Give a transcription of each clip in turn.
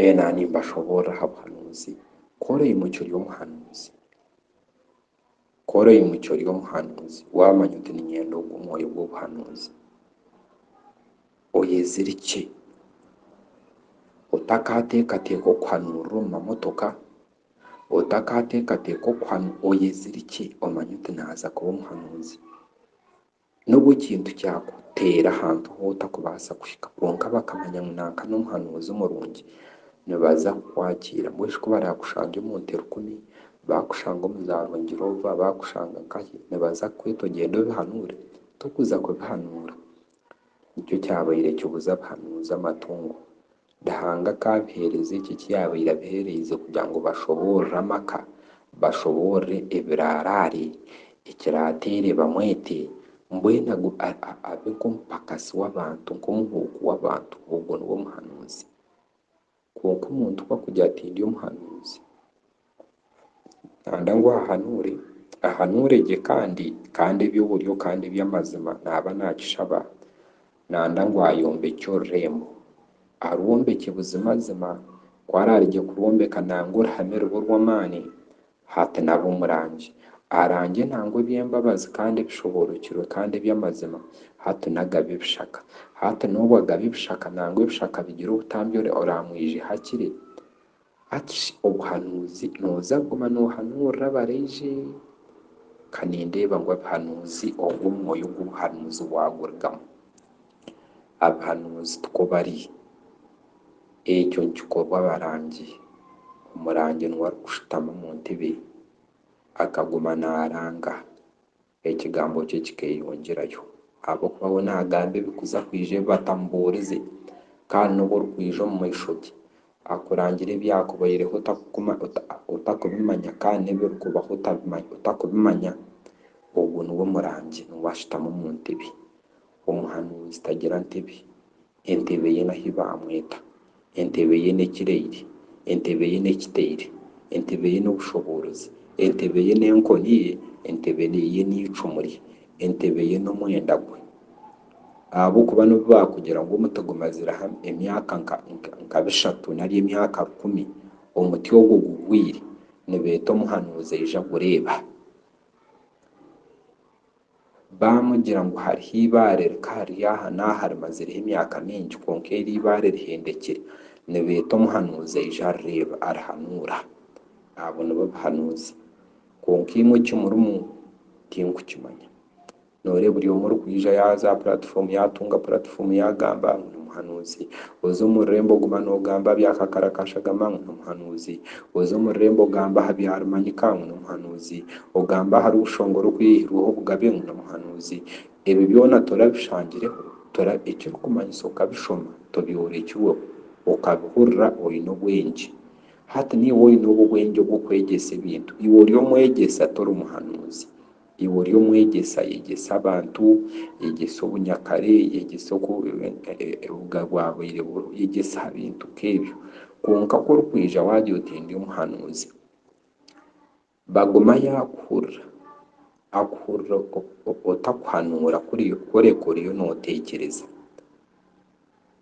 Ee, naaba nimbashoboorora aha buhanuuzi, ku ori oimukyo ry'omuhanuuzi, ku ori oimukyo ry'omuhanuuzi, waamanya oti niinyenda ogwo mwoyo gw'obuhanuuzi, oyezirikye, otakaateekateeka okuhanuurira omu mamotoka, otakaateekateeka okuhanuurira, oyezirikye omanye oti naaza kuba omuhanuuzi. N'obu ekintu kyakuteera ahantu hu otakubaasa kuhika, kwonka bakamanya ngu nanka n'omuhanuuzi omurungi, nibaza kukwakiira. Mbwenu shi ku baraakushange omu nterukumi, baakushange omu za Rwengiroova, baakushange nkahi, nibaza kukweta ogyende obihanuure? Tokuza kubihanuura. Nikyo kyabaire kibuza abahanuuzi amatungo. Ruhanga akaabiheereza ekyo eki yaabaire abiheereize kugira ngu bashoboorore amaka, bashoboorore ebiraaraare, ekiraateere bamwete, mbwenu agu, a, a, abe nk'omupakasi w'abantu, nk'omuhuuku w'abantu. Ogwo niwe muhanuuzi. Kwonka omuntu ku akugira ati, Ndi omuhanuuzi, Nkanda ngu ahahanuure, ahanuure gye kandi, kandi eby'oburyo kandi eby'amazima naaba naakishaba, nanda ngu ayombekye orurembo, arwombekye buzimazima, ku araarigye kurwombeka nanga oruhame rube orw'amaani, hati naabe omurangi, arangye nanga eby'embabazi kandi ebishoboorookirwe kandi eby'amazima, hati na agabe ebishaka. Hati n'obu agabe ebishaka nanga ebishaka bigira obutambi oraamwijeho akire? Akish obuhanuuzi noza kuguma nohanuurira abaraije? Ka nindeeba ngu abihanuuzi obwo omwoyo gw'obuhanuuzi bwagurugamu. Abihanuuzi tikwo bari. Ekyo nikikorwa abarangi. Omurangi niwe arikushutama omu ntebe akaguma naranga. Ekigambo kye kikeeyongyerayo, ahabw'okuba we naagamba ebikuza kwija ebi batamubuurize, kandi n'obu orikwija omu maisho ge, akurangire ebyakubaireho otarikubimanya kandi n'ebirikubaho otarikubimanya, ogwo niwe murangi, niwe ashutami omu ntebe. Omuhanuuzi tagira ntebe, Entebe ye n'ahi baamweta. Entebe ye n'ekiraire. Entebe ye n'ekitaire. Entebe ye n'obushoboorozi. Entebe ye n'enkoni ye. Entebe ye n'eicumu rye. Entebe ye n'omwenda gwe. Ahabw'okuba n'obu baakugira ngu omuti gumazireho emyaka nka bishatu nari emyaka rukumi, omuti ogwo gugwire, nibeeta omuhanuuzi aije agureeba. baamugira ngu hariho eibaare rikahari aha n'aha rimazireho emyaka mingi kwonka eryo eibaare rihendekire. Nibeeta omuhanuuzi aije arireeba, arihanuura. Abo nibo bahanuuzi. Kwonka imwe eki murimu tinkukimanya. Nooreeba buri omwe orikwija yaaza aha puraatifomu, yaatunga puraatifomu yaagamba ngu nimuhanuuzi. Oza omu rurembo oguma noogamba bya kakara ka shagama ngu nimuhanuuzi. Oze omu rurembo ogambe aha byarumanyika ngu n'omuhanuuzi, ogambe ahari obushonga orikweihirweho obugabe ngu n'omuhanuuzi. Ebi byona torabishangireho, tora ekirikumanyisa okabishoma, tobyorekirweho, okabihurira oine obwengye. Hati niiwe oine obwo obwengye obw'okwegyesa ebintu. Iwe ori omwegyesa, tori muhanuuzi. Iwe ori omwegyesa, yegyesa abantu, yegyesa obunyakare, yegyesa oku obuga bwabaire buriho, yegyesa aha bintu nk'ebyo. Kwonka ku orikwija waagira oti ndi omuhanuuzi, baguma yaakuhurira, akuhurira otakuhanuura kureka oriyo nooteekyereza.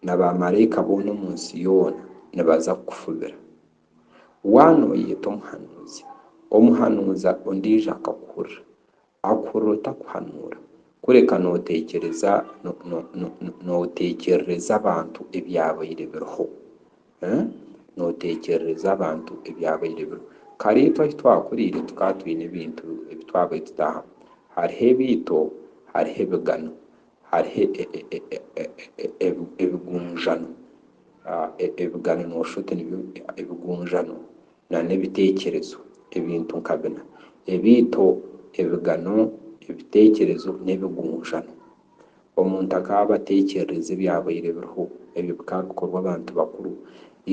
Na baamaraika boona omu nsi yoona nibaza kukufubira. Waaba nooyeeta omuhanuuzi, omuhanuuza ondiijo akakuhurira, akuhurira otakuhanuura, kureka nooteekyereza, nooteekyerereza abantu ebyabaire biriho. Nooteekyerereza abantu ebyabaire biriho. Kare itwe ahu twakuriire tukaba twine ebintu ebi twabaire tutaahamu. Hariho ebiito, hariho ebigano. hariho ebigunjano, ebigano noshusha oti nibyo ebigunjano nana ebitekyerezo ebintu nka bina ebito ebigano ebitekyerezo n'ebigunjano omuntu akaba atekyerereza ebyabaire biriho ebyo bikaba bikorwa abantu bakuru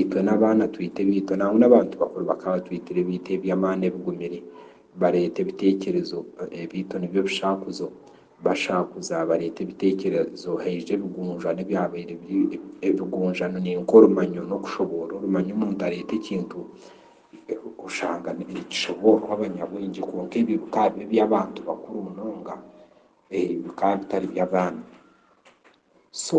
itwe n'abaana twete ebito nangwa n'abantu bakuru bakaba batwetire ebito eby'amaani ebigumire bareeta ebitekyerezo ebito nibyo ebishakuzo. Bashaakuza bareeta ebitekerezo haija ebigunjwano ebyabaire biri ebigunjano ni nk'orumanyo n'okushoboora. Orumanyo omuntu areeta ekintu oshanga nikishoboorwa abanyabwengye kwonka ebyo bikaba biba eby'abantu bakuru munonga bikaba bitari by'abaana. So.